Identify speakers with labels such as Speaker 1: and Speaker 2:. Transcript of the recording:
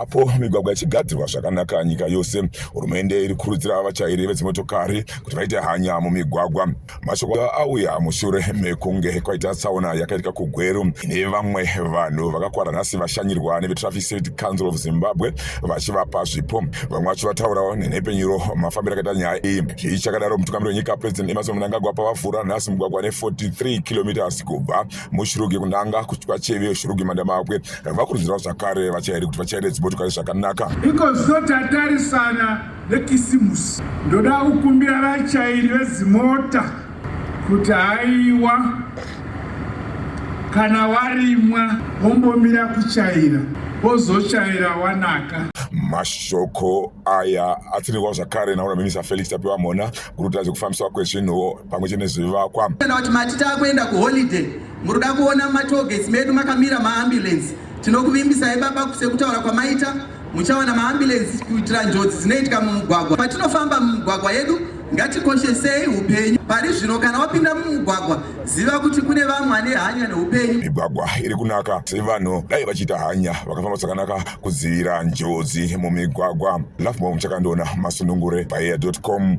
Speaker 1: apo migwagwa ichigadzirwa zvakanaka nyika yose hurumende iri kurudzira vatyairi vedzimotokari kuti vaite hanya mumigwagwa mashoko auya mushure mekunge kwaita tsaona yakaitika kugweru ine vamwe vanhu vakakwara nhasi vashanyirwa nevetraffic safety council of zimbabwe vachivapa zvipo vamwe vacho vataurawo nenhepfenyuro mafambiro akaita nyaya iyi zvii chakadaro mutungamiri wenyika president emerson mnangagwa pavavhura nhasi mugwagwa ne43 kilometers kubva mushirugi kunanga kuchikwa cheve shirugi mandamawakwe vakurudzirawo zvakare vachairi kuti vachaire dzimotokari zvakanaka iko zotatarisana
Speaker 2: nekisimusi ndoda kukumbira vachairi vedzimota kuti haiwa kana warimwa wombomira kuchaira wozochaira wanaka mashoko
Speaker 1: aya atsirirwa zvakare naona minisa felix tapiwa mhona guruta zvekufambiswa kwezvinhuwo pamwe chete nezvivakwa kana kuti mati taakuenda
Speaker 3: kuholiday muri kuda kuona mumatogets medu makamira maambulensi tinokuvimbisai baba sekutaura kwamaita Muchawana maambulensi kuitira njodzi dzinoitika mumugwagwa. Patinofamba mumugwagwa yedu ngatikoshesei upenyu pari zvino. Kana wapinda mumugwagwa, ziva kuti kune vamwe vane hanya neupenyu. Migwagwa iri kunaka
Speaker 1: sei vanhu dai vachiita hanya vakafamba zvakanaka kudzivira njodzi mumigwagwa. Lafmom Chakandiona Masunungure paeya.com.